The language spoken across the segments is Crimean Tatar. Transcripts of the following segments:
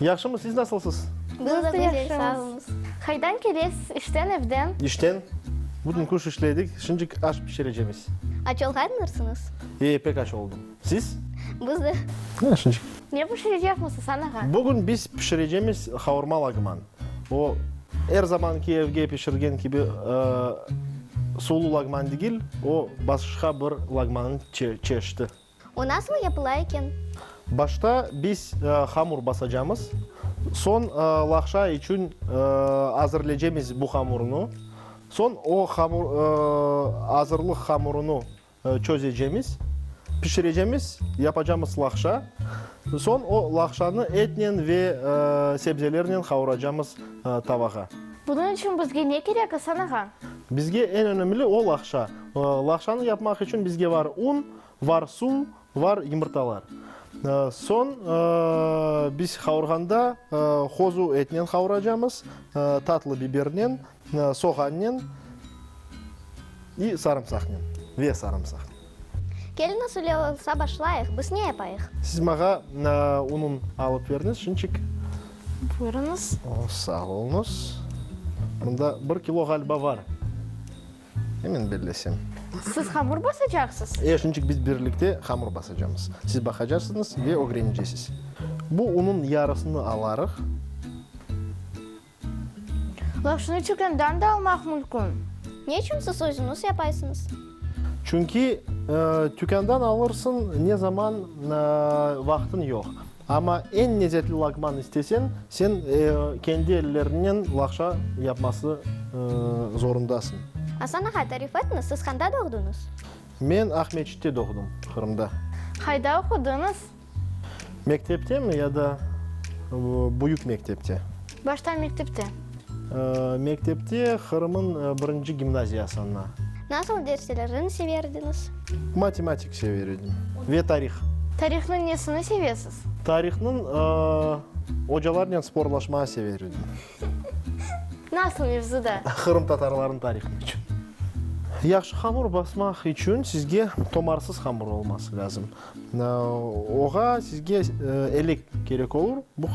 Yahşımız, siz nasılsız? Biz de pek sağmız. Haydan kelesiz, işten, evden? İşten. Bütün kış işledik, şimdik aş pişirecemiz. Aç olğandırsınız? E, pek aç oldım. Siz? Biz de. Ya, şimdik. Ne pişirecekmiz, Asan ağa? Bugün biz pişirecemiz havurma lagman. O, er zamanki evge pişirgen kibi suvlu lagman degil, o, başqa bir lagmanın çeşidi. O nasıl yapıla eken? Başta biz hamur basacamız. Soñ laqşa içün azırlecemiz bu hamurnı. Soñ o azırlıq hamurını çözecemiz, pişirecemiz, yapacamız laqşa. Soñ o laqşanı etnen ve sebzelernen qavuracamız tavağa. Bunıñ içün bizge ne kerek, İsan ağa? Bizge eñ önemli o laqşa. Laqşanı yapmaq içün bizge var un. Var su, var yımırtalar. Soñ biz havurğanda hozu etnen havuracamız, tatlı bibernen, soğannen i sarımsaqnen, ve sarımsaqnen. Kelin usulü olsa başlayıq, biz ne yapayıq? Siz mağa unun alıp beriniz şinçik. Buyurıñız. Sağ oluñız. Mında bir kilo ğaliba var. Emin bellesem. Siz hamur basacaqsız? E, şunıçün biz birlikte hamur basacamız. Siz baqacaqsıñız ve ögrenecesiz. Bu unun yarısını alarıq. Lavaşnı çürgendan da almaq mülkün. Ne içün siz özüñiz yapaysıñız? Çünki, tükândan alırsıñ, ne zaman vaqtıñ yoq. Amma eñ lezetli lagman isteseñ, sen kendi elleriñnen lagşa yapması zorundasıñ. Asan ağa, tarif etniz, siz qanda doğduñız? Men Aqmescitte doğdım, Qırımda. Qayda oqudıñız? Mekteptemi ya da büyük mektepte? Başta mektepte. Mektepte Qırım'ın birinci gimnaziyasında. Nasıl derslerin severdiniz? Matematik sever edim ve tarih. Tarihnıñ nesini sevesiz? Tarihnıñ ocalarnen sporlaşmağa sever edim. Nasıl mevzuda? Qırımtatarların tarihı içün. Yahşı hamur basmaq içün sizge tomarsız hamur olması lazım. Oğa sizge elek kerek olur, bu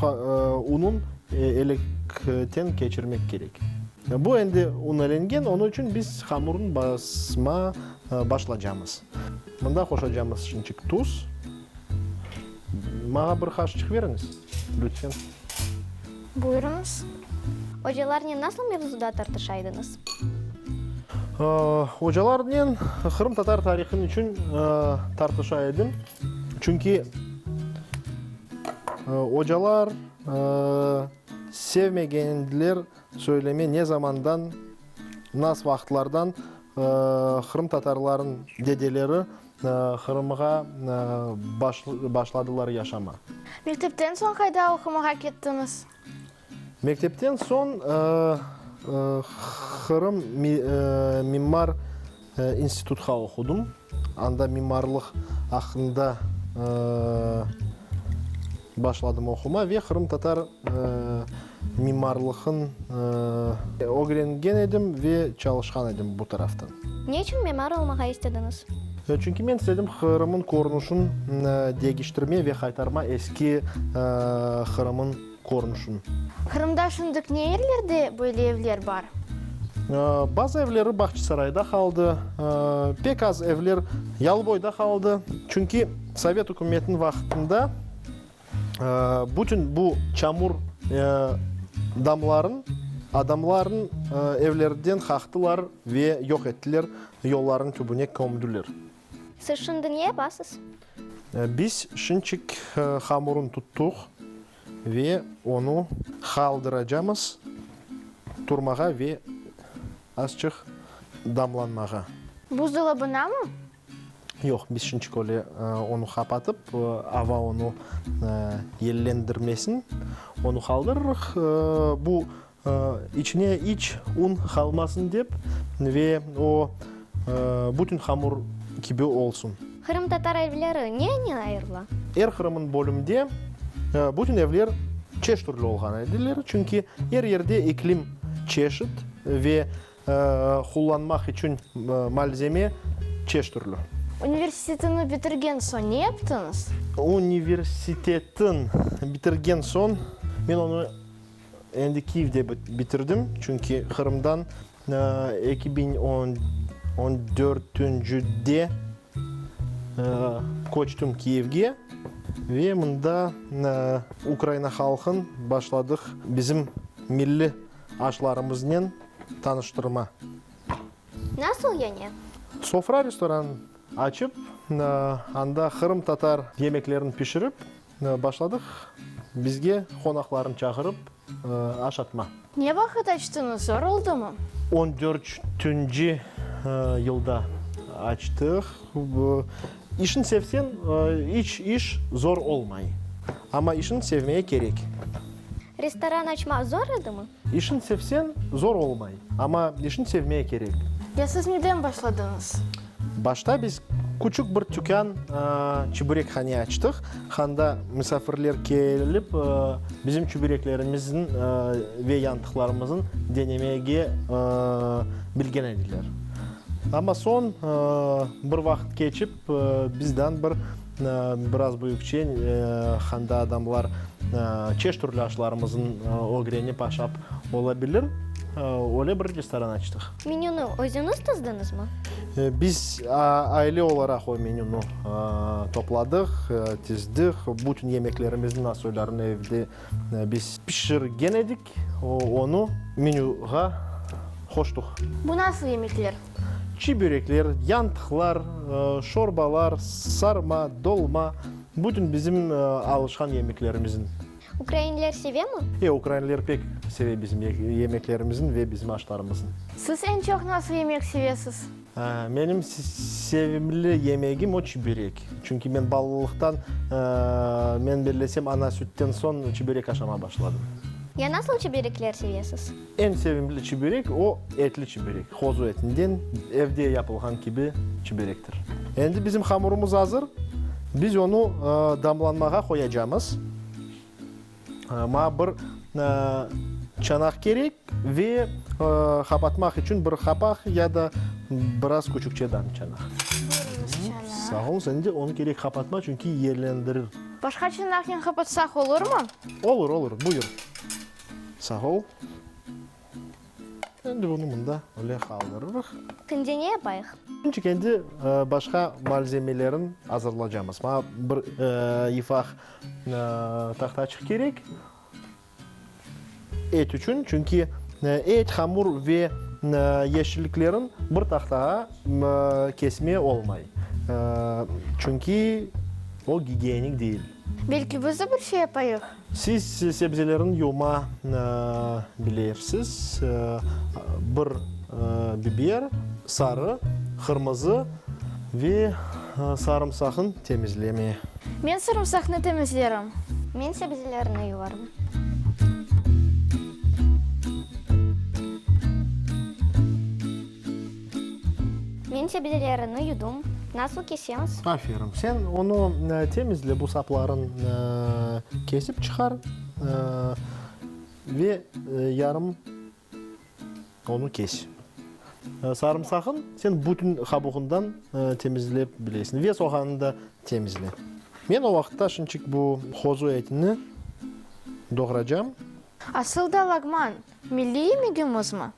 unun elekten keçirmek kerek. Bu endi unelengen, onı içün biz hamurnı basma başlacamız. Mında qoşacamız şinçik tuz. Maña bir qaşçıq beriñiz, lütfen. Buyurıñız. Ocalarnen nasıl mevzuda tartışa ediñiz? Ocalarnen qırımtatar tarihın içün tartışa edim. Çünki ocalar sevmegen ediler söyleme ne zamandan, nas vaqıtlardan qırımtatarların dedeleri, Qırımğa başladılar yaşama. Mektepten soñ qayda oqumağa kettiñiz? Mektepten soñ Qırım mimar institutqa oqudım. Anda mimarlıq aqqında Başladım oquma ve qırımtatar mimarlıqın ögrengen edim ve çalışqan edim bu taraftan. Ne içün mimar olmağa istediñiz? Çünki men istedim Qırımın körünüşin degiştirme ve qaytarma eski Qırımın körünüşin. Qırımda şundık ne yerlerde böyle evler bar? Bazı evleri Bağçasarayda qaldı, pek az evler Yalıboyda qaldı. Çünki. Sovet ükümetiniñ vaqtında bütün bu çamur damlarnı adamlarnıñ evlerinden qaqtılar ve yoq ettiler, yollarnıñ tübüne kömdüler. Siz şimdi ne yapasız? Biz şinçik hamurnı tuttuq ve onı qaldıracamız turmağa ve azçıq damlanmağa. Buzdolabınamı? Yoq, biz şunçik öyle onı qapatıp, ava onı yellendirmesin, onı qaldırırıq. Bu içine iç un qalmasın dep ve o bütün hamur kibi olsun. Qırımtatar evleri neynen ayırıla? Er Qırım'ın bölümde bütün evler çeş türlü olğan ediler, çünki er yerde iklim çeşit ve Qullanmaq içün malzeme çeş türlü. Universitetini bitirgen soñ ne yaptıñız? Universitetin bitirgen soñ men onı endi Kyivde bitirdim, çünki Qırımdan eki biñ on dörtüncüde köçtüm Kyivge ve mında Ukraina halqın başladıq bizim milliy. aşlarımıznen tanıştırma. Nasıl yani? Sofra restoran açıp, anda qırımtatar yemeklerini pişirip başladıq, bizge qonaqlarnı çağırıp aş atma. Ne vaqıt açtıñız, zor oldumı? On dörtünci yılda açtıq. İşni sevseñ, iç iş zor olmay. Amma işni sevmeye kerek. Restoran açmaq zor edimi? İşni sevseñ, zor olmay. Amma işni sevmeye kerek. Ya siz neden başladıñız? Başta biz küçük bir tükân, çübürekhane açtıq. Handa misafirler kelip, bizim çübüreklerimizin ve yantıqlarımızın denemege bilgen ediler. Amma soñ bir vaqıt keçip, bizden bir biraz büyükçe handa adamlar çeş türlü aşlarımızın ögrenip aşap ola bilir, öyle bir restoran açtıq. Menünü özüñiz tızdıñızmı? Biz aile olaraq o menünü topladıq, tizdik. Bütün yemeklerimizin asöylerini evde biz pişirgen edik. Tek onı menyuğa qoştıq. Bu nasıl yemekler? Çiy börekler, yantıqlar, şorbalar, sarma, dolma, bütün bizim alışqan yemeklerimizin. Ukrainler sevemi? E, ukrainler pek seve bizim yemeklerimizin ve bizim aşlarımızın. Siz eñ çoq nasıl yemek sevesiz? Menim sevimli yemegim o çiberek. Çünki men balalıqtan, men bellesem, ana sütten soñ çiberek aşama başladım. Ya nasıl çiberekler sevesiz? Eñ sevimli çiberek o etli çiberek. Qozu etinden evde yapılğan kibi çiberektir. Endi bizim hamurımız azır. Biz onı damlanmağa qoyacamız. Maña bir çanaq kerek ve qapatmaq içün bir qapaq ya da biraz küçükçe dam çanaq. Sağ ol, sen de onu kerek qapatma, çünki yerlendirir. Başqa çanaqnen qapatsaq olurmı? Olur, olur, buyur. Sağ ol. Endi bunı mında öyle qaldırırıq. Şimdi ne yapayıq? Şimdi endi başqa malzemelerin azırlacamız. Maña bir yifaq tahtaçıq kerek et içün, çünki et, hamur ve yeşilliklerin bir tahtağa kesme olmay, çünki o gigiyenik deyil. Belki biz de bir şey yapayıq? Siz sebzelerin yuvma bilersiz, bir biber, sarı, qırmızı ve sarımsaqın temizleme. Men sarımsaqnı temizlerim. Men sebzelerni yuvarım. Men sebzelerini yudım. Nasıl kesemiz? Aferin. Sen onı temizle, bu sapların kesip çıqar ve yarım onı kes. Sarımsaqın sen bütün qabuğından temizlep bilesiñ ve soğanı da temizle. Men o vaqıtta şinçik bu qozu etini doğracam. Asıl da lagman. Milliy yemegimizmi?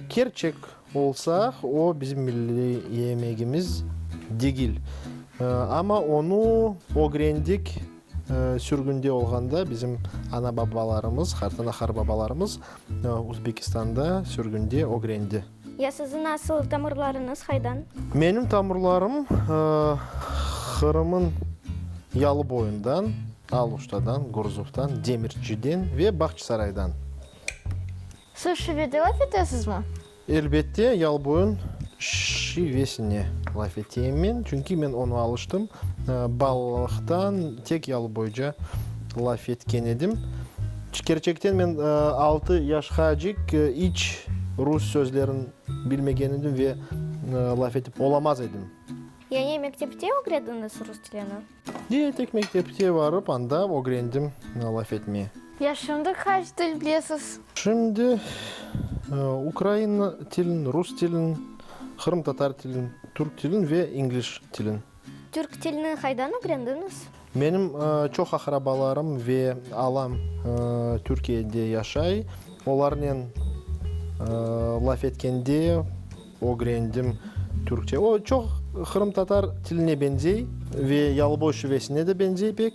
Kerçek olsaq, o bizim milliy yemegimiz degil. Amma onı ögrendik sürgünde olğanda, bizim ana-babalarımız, hartanaharbabalarımız Uzbekistanda sürgünde ögrendi. Ya siziñ nasıl, tamırlarıñız haydan? Menim tamırlarım Qırım'ın yalıboyundan, Aluştadan, Gurzuftan, Demirçiden ve Bağçısaraydan. Siz şivede laf etesizmi? Elbette, yalıboyun şivesine laf eteyim men, çünki men onı alıştım, balalıqtan tek yalıboyca. Laf etken edim. Çkerçekten men altı yaşqacik iç rus sözlerin bilmegen edim ve laf etip olamaz edim. Yani mektepte ögrediniz rus tilini? Ye, tek mektepte varıp anda ögrendim laf etmeye. Ya şimdi qaç til bilesiz? Şimdi ukrain tilin, rus tilin, qırımtatar tilin, türk tilin ve ingliş tilin. Türk tilini qaydan ögrendiñiz? Menim çoq aqrabalarım ve alam Türkiyede yaşay. Olarnen laf etkende ögrendim Türkçe. O, çoq qırımtatar tiline beñzey ve Yalıboy şivesine de beñzey pek.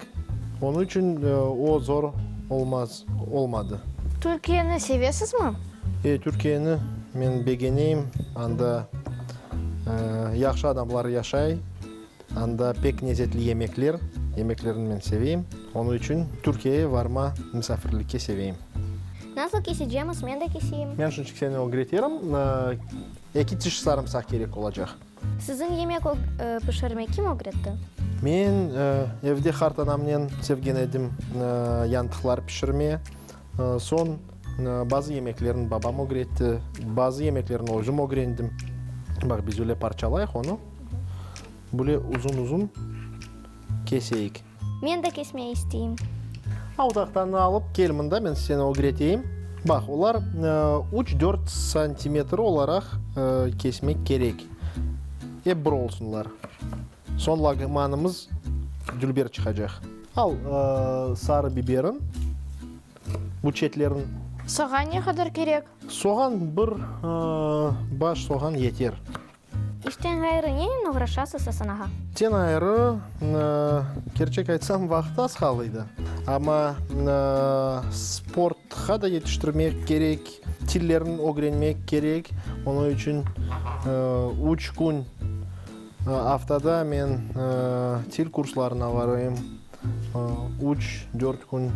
Onıñ içün o zor olmaz, olmadı. Türkiyeni sevesizmi? E, Türkiyeni men begeneyim. Anda yahşı adamlar yaşay. Anda pek nezetli yemekler, yemeklerin men seveyim. Onı içün Türkiyeye varma misafirlikke seveyim. Nasıl kesecemiz, men de keseyim? Men şunçik seni ögreterim. Eki tiş sarımsaq kerek olacaq. Sizin yemek pişirmek kim ögretti? Men evde qartanamnen sevgen edim yantıqlar pişirme, Soñ bazı yemeklerni babam ögretti, bazı yemeklerni özüm ögrendim. Baq, biz öyle parçalayıq onı, böyle uzun-uzun keseyik. Men de kesmey isteyim. Al, tahtanı alıp kel mında, men seni ögreteyim. Baq, olar üç-dört santimetr olaraq kesmek kerek, ep bir olsunlar. Soñ lagmanımız dülber çıqacaq. Al sarı biberin, bu çetlerin. Soğan ne qadar kerek? Soğan bir baş soğan yeter. İşten ğayrı nenen oğraşasız, Asan ağa? İşten ğayrı, kerçek aytsam, vaqıt az qal edi. Amma sportqa da yetiştirmek kerek, tillerni ögrenmek kerek. Onıñ içün üç kün. Aftada men til kurslarına varayım, üç, dört kün.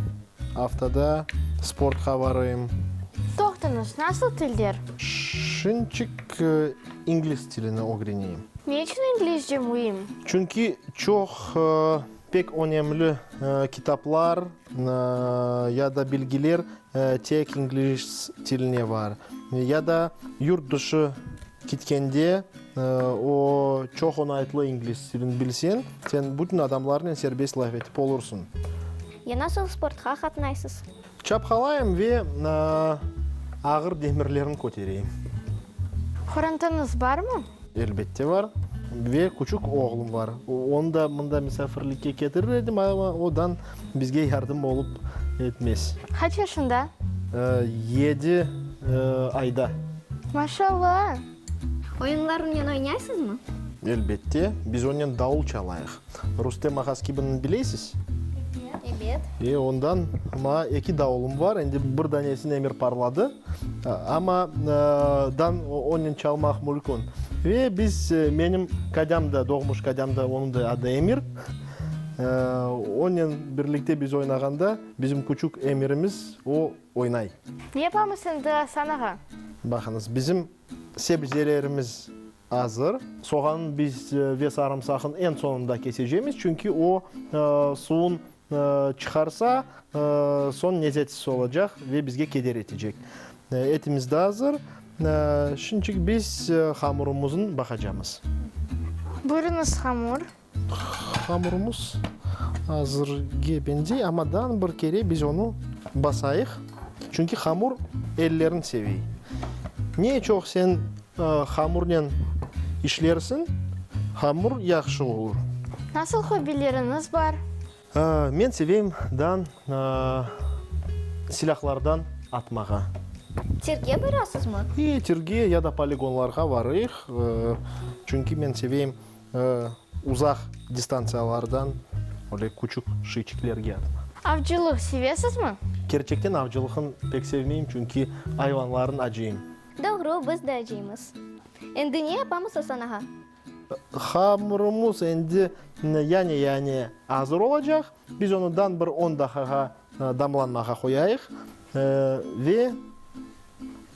Aftada sportqa varayım. Toqtıñız, nasıl tilder? Şinçik ingliz tilini ögreneyim. Ne içün inglizce müim? Çünki çoq pek önemli kitaplar ya da bilgiler tek ingliz tilinde var. Ya da yurt dışı Kitkende, o, çoq oñaytlı ingliz tilin bilseñ, sen bütün adamlarnen serbest laf etip olursıñ. Ya nasıl sportqa qatnaysız? Çapqalayım ve ağır demirlerni kötereyim. Qorantanıñız barmı? Elbette bar. Ve küçük oğlum bar. Onı da mında misafirlikke ketirir edim, amma odan. Bizge yardım olıp etmez. Qaç yaşında? Yedi ayda. Maşallah! Oyunlar onen oynaysızmı? Elbette, biz onen davul çalayıq. Rustem Ahaskibinni bileysiz? Ebet. E, ondan maa eki davulım var, endi bir danesini Emir parladı, amma dan onen çalmaq mülkün. Ve biz, menim qadam da, doğmuş qadam da, onıñ da adı Emir. Onen birlikte biz oynağanda, bizim küçük emirimiz, o oynay. Ne yapamız endi asanağa? Baqıñız, bizim sebzelerimiz azır. Soğanı biz ve sarımsaqnı eñ soñunda kesecemiz, çünki o suvun çıqarsa, soñ lezetsiz olacaq ve bizge keder etecek. Etimiz de azır. Şunıñçün biz hamurımıznı baqacamız. Buyurıñız, hamur. Hamurımız azırge beñzey, amma dan bir kere biz onı basayıq, çünki hamur ellerin sevey. Ne çoq sen hamurnen işlersiñ, hamur yahşı olur. Nasıl hobileriñiz bar? Men seveyim dan silâhlardan atmağa. Tirge barasızmı? İyi, tirge ya da poligonlarğa varıyıq, çünki men seveyim Uzaq distantsiyalardan öyle küçük şeyçiklerge atma. Avcılıq sevesizmi? Kerçekten avcılıqnı pek sevmeyim, çünki ayvanlarnı acıyım. Doğru, biz de acıyımız. Endi ne yapamız, Asan ağa? Hamırımız endi yane-yane azır olacaq. Biz onı dan bir on daqağa Damlanmağa qoyayıq ve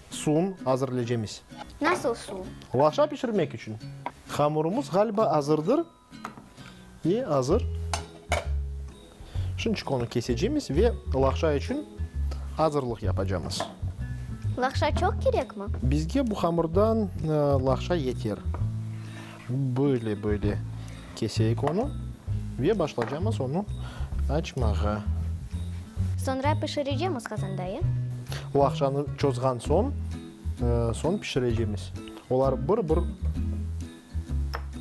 suun azırlecemiz. Nasıl su? Lavaşa pişirmek içün. Hamurımız ğaliba azırdır. Ve azır. Şunçık onı kesecemiz ve lavaşa içün azırlıq yapacamız. Lavaşa çoq kerekmi? Bizge bu hamurdan lavaşa yeter. Böyle-böyle keseyik onı ve başlacamız onı açmağa. Soñra pişirecemiz qazanda, e? O aqçanı çozğan soñ, soñ pişirecemiz. Olar bir-bir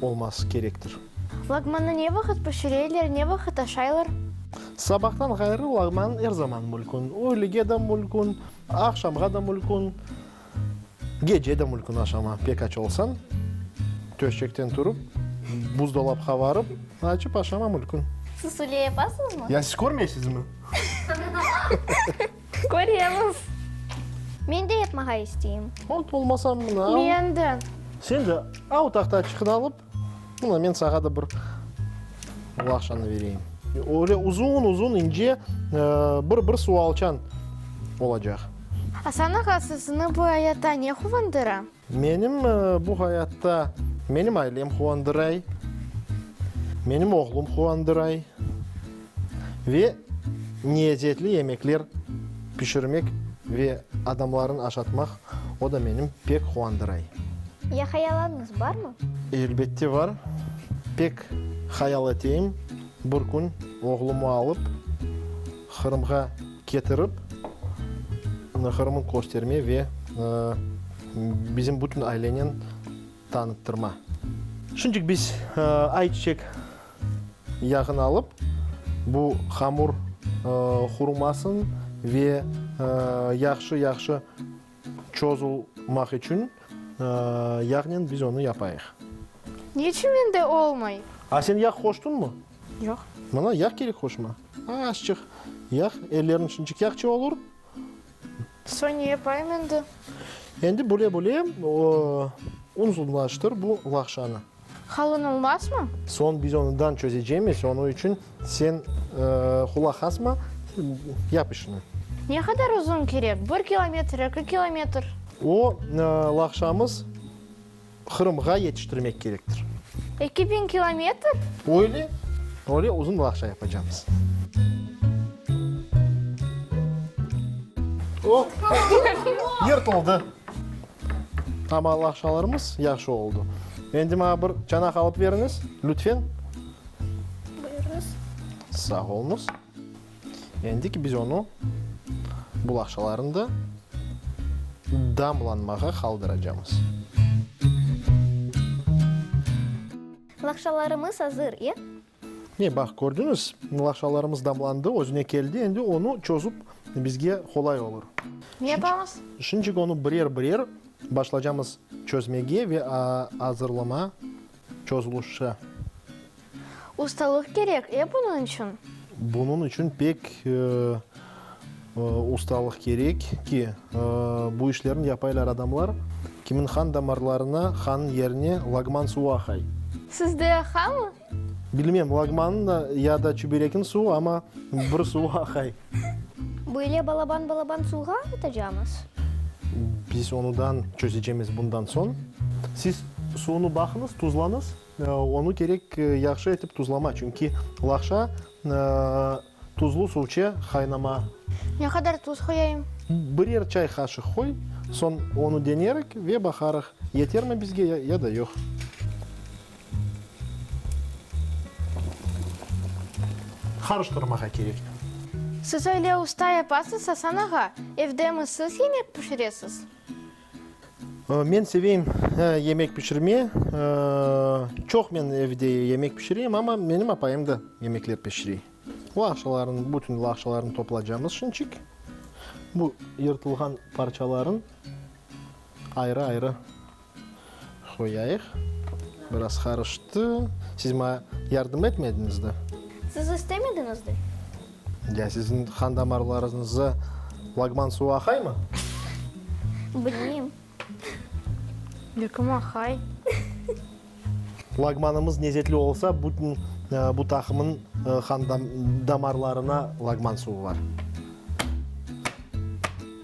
olması kerektir. Lagmanı ne vaqıt pişireler, ne vaqıt aşaylar? Sabahtan ğayrı lagman er zaman mülkün. Öğlege de mülkün, aqşamğa da mülkün. Gece de mülkün aşama pek aç olsañ, töşekten turıp, buzdolapqa barıp, açıp aşama mülkün. Siz öyle yapasıñızmı? Ya siz körmeysizmi? Köremiz. Men de yapmağa isteyim. Ot olmasa mına. Men de. Sen de a otaqta çıqıt alıp, Mına, men saña da bir laqşanı bereyim. Öyle uzun-uzun, ince bir-bir sualçan olacaq. Asanıq asızını bu ayatta ne quvandıra? Menim bu ayatta menim ailem quvandıray, menim oğlum quvandıray. ve neezzetli yemekler pişirmek ve adamlarnı aşatmaq, o da menim pek quandıray. Ya hayallarıñız barmı? Elbette var. Pek hayal eteyim, bir kün oğlumı alıp, Qırımğa ketirip, Qırımı kösterme ve bizim bütün ailenen Tanıttırma. Şunıcık biz ay çiçek yağını alıp, bu hamur hurumasın ve yahşı-yahşı çozulmaq içün yağnen biz onı yapayıq. Ne içün mende olmay? A sen yağ qoştunmı? Yoq. Mına yağ kerek qoşma. Azçıq yağ, ellerniñ şunıcık yağçı olur. Soñ ne yapayım endi? Endi bule-bule unzunlaştır bu laqşanı. Qalın olmazmı? Soñ biz onıdan çözecemiz, onı içün sen qulaq asma, yap işini. Ne qadar uzun kerek? Bir kilometr, eki kilometr? O laqşamız. Qırımğa yetiştirmek kerektir. Eki biñ kilometr? Öyle, öyle uzun laqça yapacamız. O, yırtıldı. Amma laqçalarımız yahşı oldı. Endi maña bir çanaq alıp beriñiz, lütfen. Buyurıñız. Sağ oluñız. Endik biz onı bul aqçalarında damlanmağa qaldıracamız. Laqçalarımız azır, e? Mine, baq, kördiñiz, laqçalarımız damlandı, özüne keldi, endi onı çözüp bizge qolay olur. Ne yapamız? Şunıñçik onı birer-birer başlacamız çözmege ve azırlama. Çözülüşi. Ustalıq kerek, e, bunıñ içün? Bunıñ içün pek ustalıq kerek ki, bu işlerni yapaylar adamlar, kimin qan damarlarına, qanıñ yerine lagman suvu aqay. Sizde aqamı? Bilmem, lagmanıñ ya da çüberekniñ suvu, amma bir suvu aqay. Böyle balaban-balaban suvğa atacamız. Biz onudan çözecemiz bundan soñ. Siz suvunı baqıñız, tuzlañız. Onı kerek yahşı etip tuzlama, çünki laqşa tuzlu suvçe qaynama. Ne qadar tuz qoyayım? Birer çay qaşıq qoy, soñ onı denerik ve baqarıq, yetermi bizge ya da yoq. Qarıştırmağa kerektir. Siz öyle usta yapasız, Asan ağa? Evdemi siz yemek pişiresiz? Men seveyim yemek pişirme. Çoq men evde yemek pişireyim, amma menim apayım da yemekler pişire. Laqçalarnı, bütün laqçalarnı toplacamız şinçik. Bu yırtılğan parçaların ayrı-ayrı. Qoyayıq. Biraz qarıştı. Siz maña yardım etmediñiz de. Siz istemediñiz de. Ya siziñ qan damarlarıñızda lagman suvu aqaymı? Bilmeyim. Belkim aqay. Lagmanımız nezetli olsa, bütün bu taqımnıñ qan damarlarına lagman suvu bar.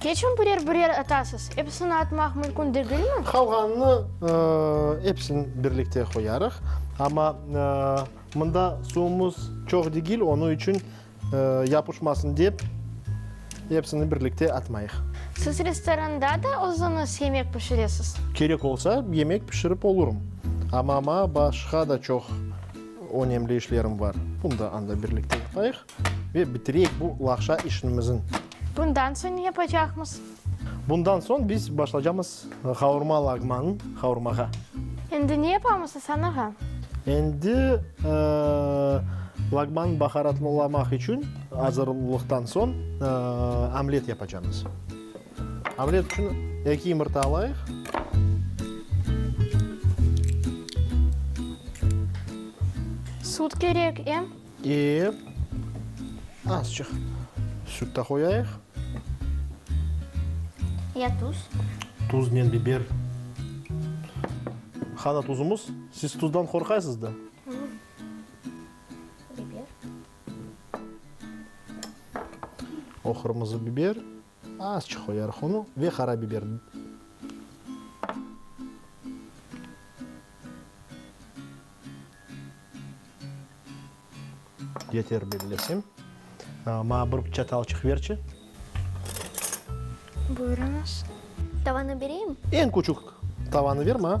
Keçün birer-birer atasız. Episini atmaq mümkün degilmi? Qalğanını epsin birlikte qoyarıq. Amma mında suvumız çoq degil, onı içün yapışmasın dep, epsini birlikte atmayıq. Siz restoranda da özüniz yemek pişiresiz? Kerek olsa, yemek pişirip olurım. Amma maña başqa da çoq önemli işlerim bar. Bunda anda birlikte yapayıq. Ve bitireyik bu laqşa işnimizni. Bundan soñ ne yapacaqmız? Bundan soñ biz başlacamız qavurma laqmanı qavurmağa. Endi ne yapamız, Asan ağa? Endi laqmanı baharatlalamaq içün azırlıqtan soñ omlet yapacamız. Omlet içün eki yumurta alayıq. Sut kerek, em? Ve azçıq süt de qoyayıq. Ya tuz. Tuznen biber. Qana tuzumuz. Siz tuzdan qorqaysız da. Biber. O qırmızı biber. Azçıq qoyarıq onı ve qara biber. Yeter bellesem. Maña bir çatalçıq berçi. Buyurıñız. Tavanı bereyim? Eñ küçük tavanı ver maña.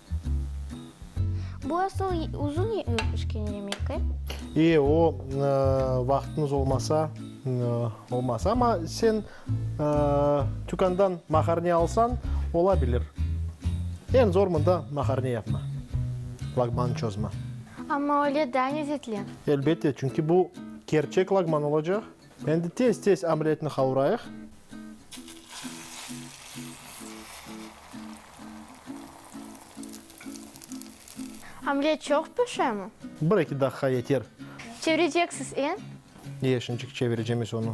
Bu asıl uzun pişken yemek, e? E, o vaqtımız olmasa, olmaz. Amma sen tükândan maharniya alsañ, ola bilir. Eñ zor mında maharniya yapmaq, lagmanı çözmek. Amma öyle daa, lezetli. Elbette, çünki bu kerçek lagman olacaq. Endi tez-tez omletni qavurayıq. Omlet çoq pişemi? Bir-eki daqiqa yeter. Çevireceksiz, em? Ye, şimdiçik çevireceğimiz onı.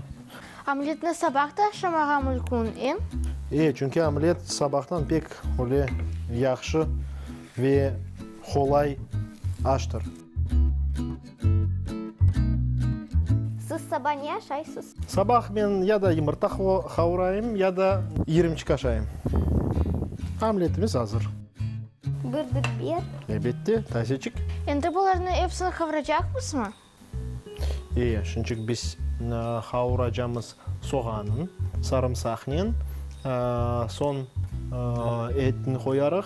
Omletni sabah da aşamağa mülkün, em? E, çünki omlet sabahtan pek öyle yahşı ve qolay aştır. Siz saba ne aşaysız? Sabah men ya da yımırta havurayım, ya da irimçik aşayım. Omletimiz azır. Bir dük ber. Elbette, tazeçik. Endi bularnı epsini havuracaqmızmı? Ee, şunçik biz havuracamız soğanın, sarımsaqnen, soñ etni qoyarıq.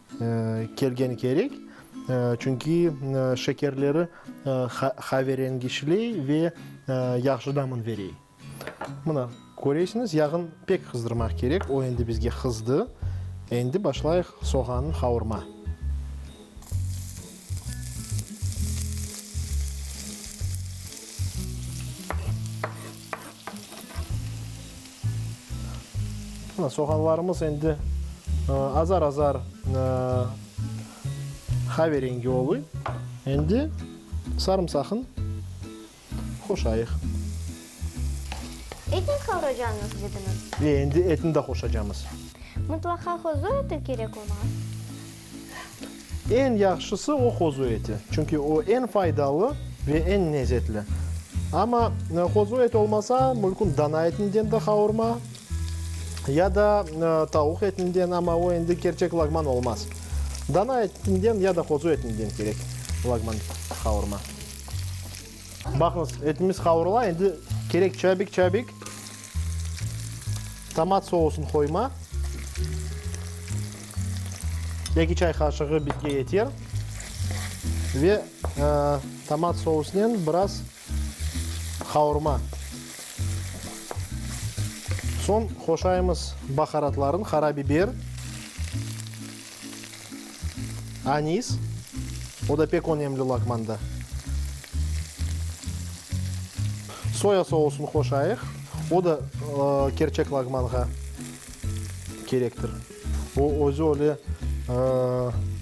Kelgen kerek, çünki şekerleri qaverengiçley ve yahşı damın verey. Mına, köreysiñiz, yağın pek qızdırmaq kerek, o endi bizge qızdı. Endi başlayıq soğanı qavurma. Soğanlarımız endi azar-azar qave rengi oluy. Endi sarımsaqnı qoşayıq. Etni qavraycağıñız dediñiz? Endi etni de qoşacağımız. Mıtlaqa qozu eti kerek ola? Eñ yahşısı o qozu eti, çünki o eñ faydalı ve eñ nezetli. Amma qozu eti olmasa, mülküm dana etinden de qavurma ya da tavuq etinden, amma o endi kerçek lagman olmaz. Dana etinden ya da qozu etinden kerek lagman qavurma. Baqıñız, etimiz qavurıla, endi kerek çabik-çabik tomat sousını qoyma. Eki çay qaşığı bizge yeter. Ve tomat sousınen biraz qavurma. Soñ qoşayımız baharatlarnı, qarabiber. Anis, o da pek önemli laqmanda. Soya sousını qoşayıq, o da kerçek laqmanğa kerektir. O özü öyle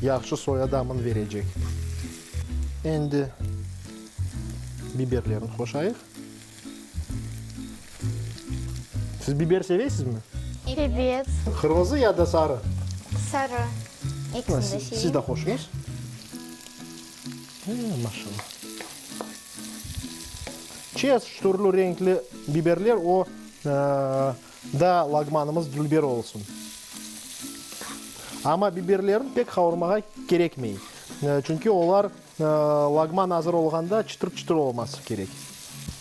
yahşı soya damını verecek. Endi biberlerini qoşayıq. Siz biber seveysizmi? Ebet. Qırmızı ya da sarı? Sarı. Ekisini de seveyim. Siz de hoşuñız. Ee, maşallah. Çeşit türlü renkli biberler o da lagmanımız dülber olsun. Amma biberlerin pek havurmağa kerekmey. Çünki olar Lagman azır olğanda çıtır-çıtır olması kerek.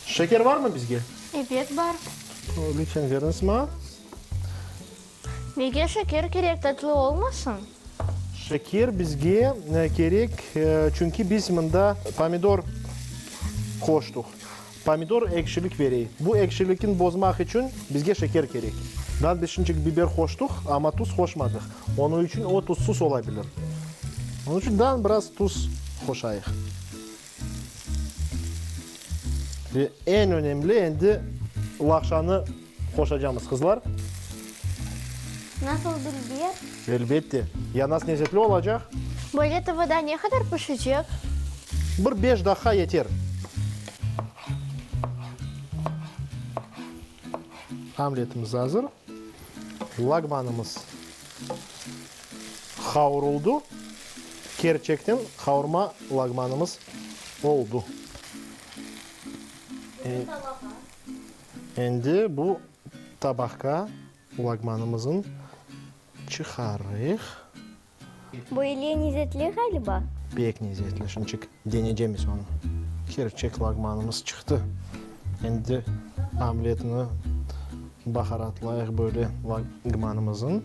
Şeker barmı bizge? Ebet, bar. Lütfen beriñiz maña. Nege şeker kerek, tatlı olmasın? Şeker bizge kerek, çünki biz mında pomidor qoştıq. Pomidor ekşilik verey. Bu ekşilikin bozmaq içün bizge şeker kerek. Biz bişinçik biber qoştuq, amma tuz qoşmadıq. Onı içün o tuzsuz ola bilir. Onı içün daa biraz tuz qoşayıq. Ve eñ önemli endi laqşanı Qoşacamız, qızlar. Nasıl bildiler? Elbette. Yanas nezetli olacaq. Böyle tıvıda ne qadar pişecek? Bir beş daqqa yeter. Omletimiz azır. Lagmanımız qavuruldı. Kerçekten qavurma lagmanımız oldı. Qırım talağa. Endi bu tabaqqa lagmanımızın çıqarıq. Bu ile nezetli ğaliba. Pek nezetli, şunçik denecemiz onı. Kerçek lagmanımız çıqtı. Endi omletni baharatlayıq böyle lagmanımızın.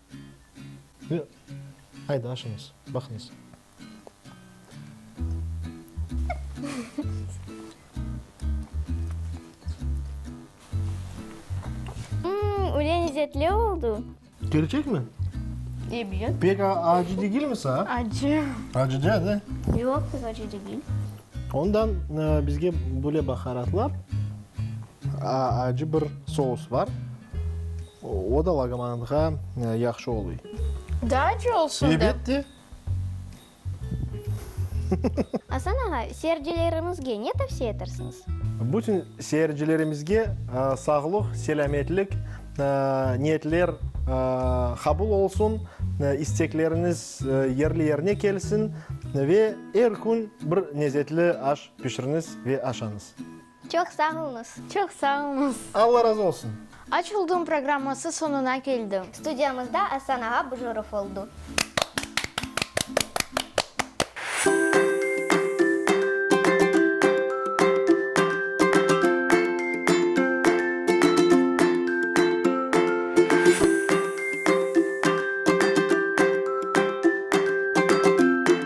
Ve aydı aşıñız, baqıñız. Mmm, öyle lezetli oldu. Kerçek mi? Ebet. Pek acı degil mi saña? Acı. Acı degil, da? Yoq, pek acı degil. Ondan bizge böyle baharatlar. Acı bir sous bar, o da laqmanınğa yahşı oluy. Daa acı olsun dep. Ebette. Asan ağa, seyircilerimizge ne tavsiye etersiñiz? Bütün seyircilerimizge sağlıq, selâmetlik, niyetler qabul olsun, istekleriñiz yerli yerine kelsin ve er kün bir lezetli aş pişiriñiz ve aşañız. Çoq sağ oluñız. Çoq sağ oluñız. Alla razı olsun. Aç oldum programması soñuna keldi. Studiyamızda Asan ağa Bujurov oldu.